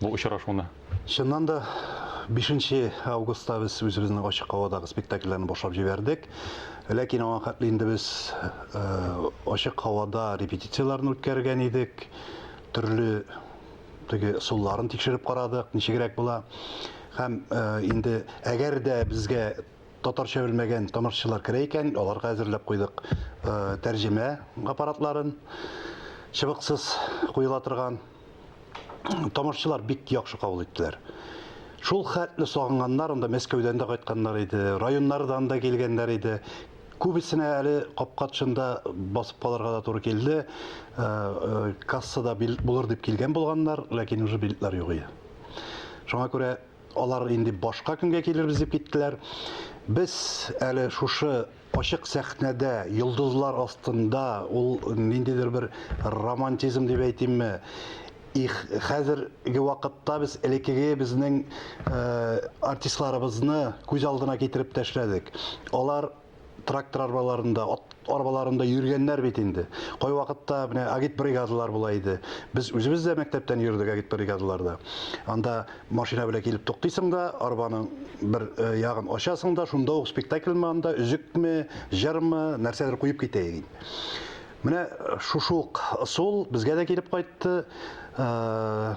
бу очрашуны? Чыннан да, бишенче августта без үзебезнең ачык һавадагы спектакльләрне башлап җибәрдек. Ләкин аңа хәтле инде без ачык һавада репетицияләрне үткәргән идек. Төрле теге ысулларын тикшереп карадык, ничегрәк була. Һәм инде әгәр дә безгә татарча белмәгән тамашачылар керә икән, аларга әзерләп куйдык тәрҗемә аппаратларын, чыбыксыз куела торган. тамашчылар бик яхшы кабул иттеләр. Шул хәтле сагынганнар, анда Мәскәүдән дә кайтканнар иде, районнардан да килгәннәр иде. Күбесенә әле капка тышында басып калырга да туры килде. Э, э, кассада билет булыр дип килгән булганнар, ләкин уже билетлар юк иде. Шуңа күрә алар инде башка көнгә килербез дип киттеләр. Без әле шушы Ачык сәхнәдә, йолдызлар астында ул ниндидер бер романтизм дип әйтимме, их, хәзерге вакытта без элеккеге безнең артистларыбызны күз алдына китереп тәшләдек. Алар трактор арбаларында, ат арбаларында йөргәннәр бит инде. Кайвакытта менә агитбригадалар була иде. Без үзебез дә мәктәптән йөрдек агитбригадаларда. Анда Машина белән килеп туктыйсың да, арбаның бер э, ягын ачасың да, шунда ук спектакль манда үзекме, җырмы, нәрсәдер куеп китә иде. Менә шушы ук ысул безгә дә килеп кайтты. Э,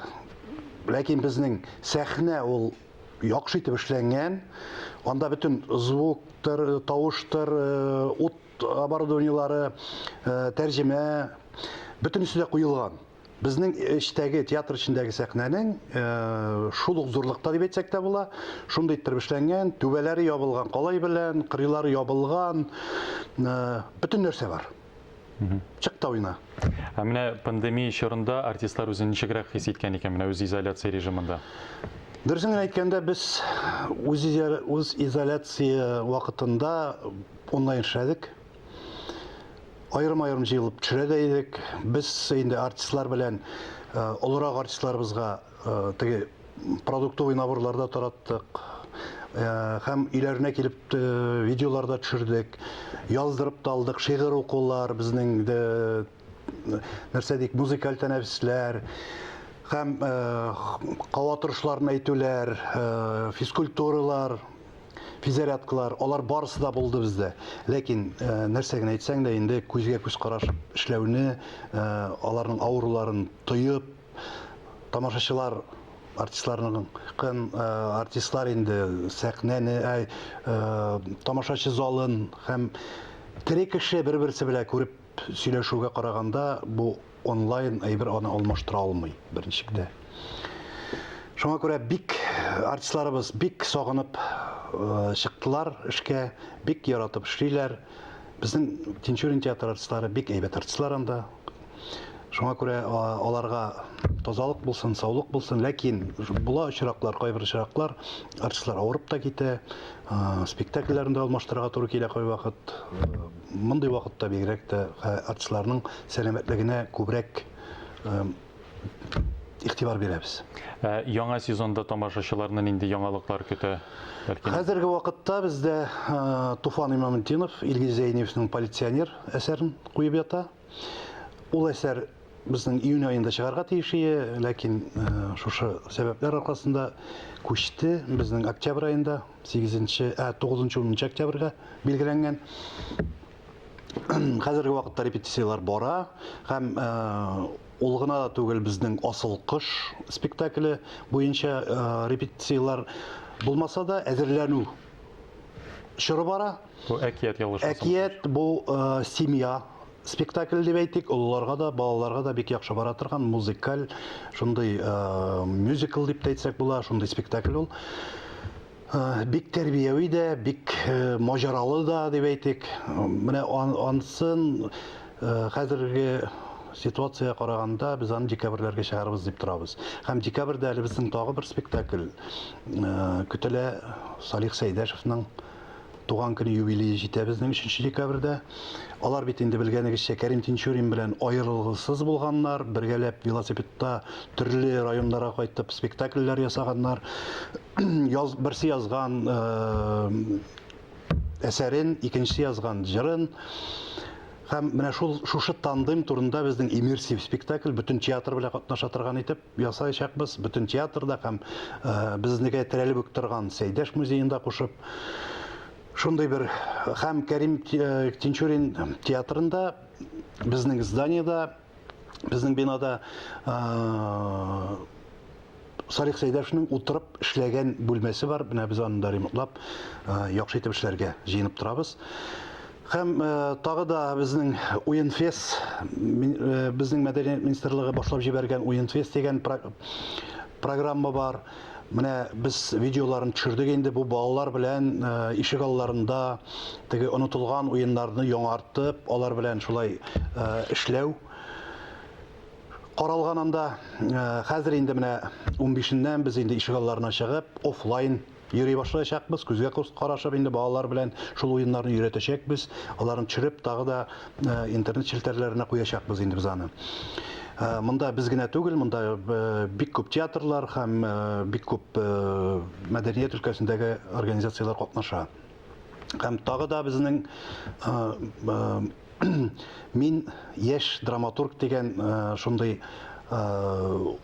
ләкин безнең сәхнә ул яхшы итеп эшләнгән. Анда бөтен звуктыр, тавыштыр, э, ут оборудованиелары, э, тәрҗемә бөтенесе дә куелган. Безнең эчтәге, театр эчендәге сәхнәнең шул ук зурлыкта дип әйтсәк тә була. Шундый иттереп эшләнгән, түбәләре ябылган калай белән, кырыйлары ябылган, бөтен нәрсә бар. Чык та уйна. Ә менә пандемия чорында артистлар үзен ничегрәк хис иткән икән менә үз изоляция режимында? Дөресен генә әйткәндә, без үз изоляция вакытында онлайн эшләдек. Аерым-аерым җыелып төшерә дә идек. Без инде артистлар белән э, олырак артистларыбызга э, теге продуктовый наборларда тараттык. Э, һәм өйләренә килеп видеоларда төшердек. Яздырып та алдык, шигырь укулар, безнең нәрсә дик, музыкаль тәнәфесләр һәм кава торышларын әйтүләр, физкультуралар, физзарядкалар, алар барысы да булды бездә. Ләкин нәрсә генә әйтсәң дә, инде күзгә күз карашып эшләүне, аларның авыруларын тоеп, тамашачылар артистларның кын артистлар инде сәхнәне, тамашачы залын һәм тере кеше бер-берсе белән күреп Сөйләшүгә караганда, бу онлайн әйбер аны алмаштыра алмый, беренчелектә. Шуңа күрә бик артистларыбыз бик сагынып чыктылар эшкә, бик яратып эшлиләр. Безнең Тинчурин театры артистлары бик әйбәт артистлар анда. Шуңа күрә аларга тазалык булсын, саулык булсын, ләкин була очраклар, кайбер очраклар артистлар авырып та китә, спектакльләрен дә алмаштырырга туры килә кайвакыт. Мондый вакытта бигрәк тә артистларның сәламәтлегенә күбрәк игътибар бирәбез. Ә яңа сезонда тамашачыларны нинди яңалыклар көтә? Бәлки. Хәзерге вакытта бездә Туфан Имаметдинов, Илгиз Зәйниевның полиционер әсәрен куеп ята. Ул әсәр безнең июнь аенда чыгарга тиеш ие, ләкин э, шушы сәбәпләр аркасында күчте. Безнең октябрь аенда 8-нче, ә 9-10 октябрьгә билгеләнгән. Хәзерге вакытта репетицияләр бара һәм э, ул гына да түгел безнең асыл кыш спектакле буенча э, репетицияләр булмаса да әзерләнү чоры бара Бу әкият ялгышмасам. Әкият бу э, семья спектакль дип әйтик, олыларга да, балаларга да бик яхшы бара торган музыкаль, шундый э, мюзикл дип тә әйтсәк була, шундый спектакль ул. Э, бик тәрбияви дә, бик э, маҗаралы да дип әйтик. Менә ан, ансын э, хәзерге ситуация караганда без аны декабрьләргә чыгарабыз дип торабыз. Һәм декабрьдә әле безнең тагы бер спектакль э, көтелә Салих Сәйдәшевның туган көне юбилее җитә безнең 3 декабрьдә. Алар бит инде белгәнегезчә Кәрим Тинчурин белән аерылгысыз булганнар, бергәләп велосипедта төрле районнарга кайтып спектакльләр ясаганнар. Яз, берсе язган әсәрен, икенчесе язган җырын. Һәм менә шул шушы тандем турында безнең иммерсив спектакль бөтен театр белән катнаша торган итеп Ясаячакбыз, бөтен театрда һәм безнеке терәлеп үк торган Сәйдәш музеенда кушып. Шундый бер һәм Кәрим Тинчурин театрында, безнең зданиеда, безнең бинада Салих Сәйдәшнең утырып эшләгән бүлмәсе бар. Менә без аны да ремонтлап, яхшы итеп эшләргә җыенып торабыз. Һәм тагы да безнең Уенфест, безнең мәдәният министрлыгы башлап җибәргән Уенфест дигән программа бар. Менә без видеоларын төшердек инде бу балалар белән ишек алларында теге онытылган уеннарны яңартып, алар белән шулай эшләү каралган анда. Хәзер инде менә 15 ннән без инде ишек алларына чыгып, офлайн Йөри башлаячакбыз, күзгә күз карашып инде балалар белән шул уеннарны өйрәтәчәкбез, аларны төшереп тагы да интернет челтәрләренә куячакбыз инде без аны. Монда без генә түгел, монда бик күп театрлар һәм бик күп мәдәният өлкәсендәге организацияләр катнаша. Һәм тагы да безнең Мин яшь драматург дигән шундый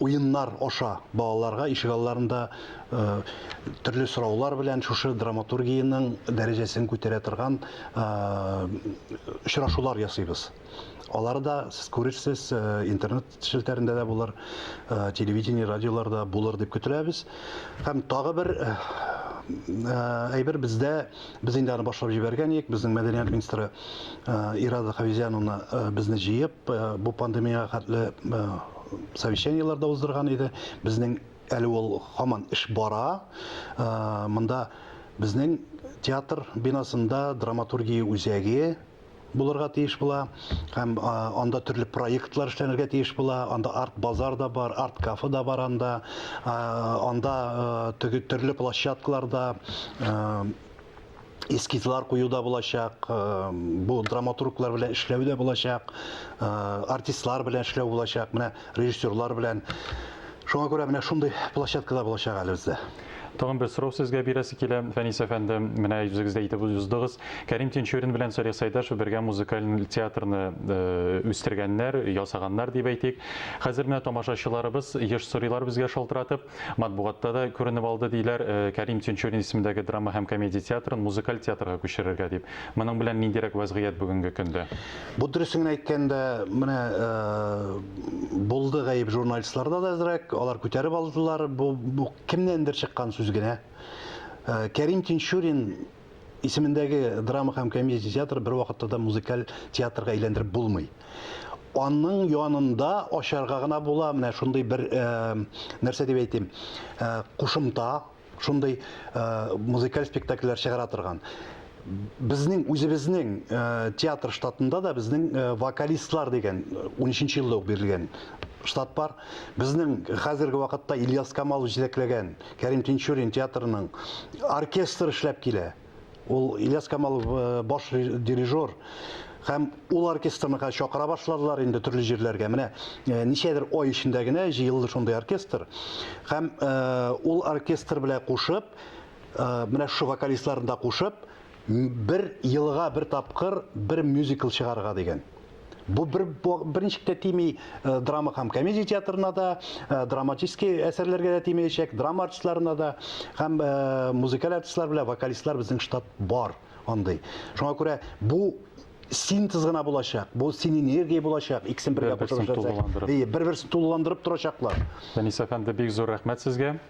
уеннар аша балаларга ишек алларында төрле сораулар белән шушы драматургиянең дәрәҗәсен күтәрә торган очрашулар ясыйбыз. Алары да сез күрерсез интернет челтәрендә дә булыр, телевидение, радиоларда булыр дип көтеләбез. Һәм тагы бер әйбер бездә без инде аны башлап җибәргән идек безнең мәдәният министры ирада хавизяновна безне җыеп бу пандемиягә хәтле совещаниеләр дә уздырган иде безнең әле ул һаман эш бара монда безнең театр бинасында драматургия үзәге булырга тиеш була һәм анда төрле проектлар эшләнергә тиеш була анда арт базар да бар арт кафе да бар анда анда теге төрле площадкаларда эскизлар кую да булачак бу драматурглар белән эшләү дә булачак артистлар белән эшләү булачак менә режиссерлар белән. Шуңа күрә менә шундый площадка да булачак әле бездә. Тагын бер сорау сезгә бирәсе килә, Фәнис әфәнде, менә үзегез дә әйтеп уздыгыз, Кәрим Тинчурин белән Салих Сәйдәшев бергә музыкаль театрны үстергәннәр, ясаганнар дип әйтик. Хәзер менә тамашачыларыбыз еш сорыйлар безгә шалтыратып. Матбугатта да күренеп алды, диләр, Кәрим Тинчурин исемендәге драма һәм комедия театрын музыкаль театрга күчерергә дип. Моның белән ниндирәк вәзгыять бүгенге көндә? Бу дөресен генә әйткәндә, менә булды гаеп журналистларда да әзрәк, алар күтәреп алдылар, бу кемнәндер чыккан сүз генә. Кәрим Тинчурин исемендәге драма һәм комедия театры бер вакытта да музыкаль театрга әйләндереп булмый. Аның янында ачарга гына була менә шундый бер э, нәрсә дип әйтим, э, кушымта, шундый э, музыкаль спектакльләр чыгара торган. Безнең үзебезнең э, театр штатында да безнең э, вокалистлар дигән 13 елда ук бирелгән штат бар. Безнең хәзерге вакытта Ильяс Камалов җитәкләгән Кәрим Тинчурин театрының оркестр эшләп килә. Ул Ильяс Камалов э, баш дирижер һәм ул оркестрныкы чакыра башладылар инде төрле җирләргә. Менә э, ничәдер ай эчендә генә җыелды шундый оркестр. Һәм э, ул оркестр белән кушып, э, менә шушы вокалистларны да кушып, Бер елга бер тапкыр бер мюзикл чыгарырга дигән. Бу бер берничек тә тими э, драма һәм комедия театрына да, э, драматический әсәрләргә дә тимәячәк, драма артистларына да һәм э, музыкаль артистлар белән вокалистлар безнең штат бар андый. Шуңа күрә бу синтез гына булачак. Бу син энергия булачак. Иксен бергә кушып эшләсәк. Бер-берсен тулыландырып торачаклар. Фәнис әфәнде, бик зур рәхмәт сезгә.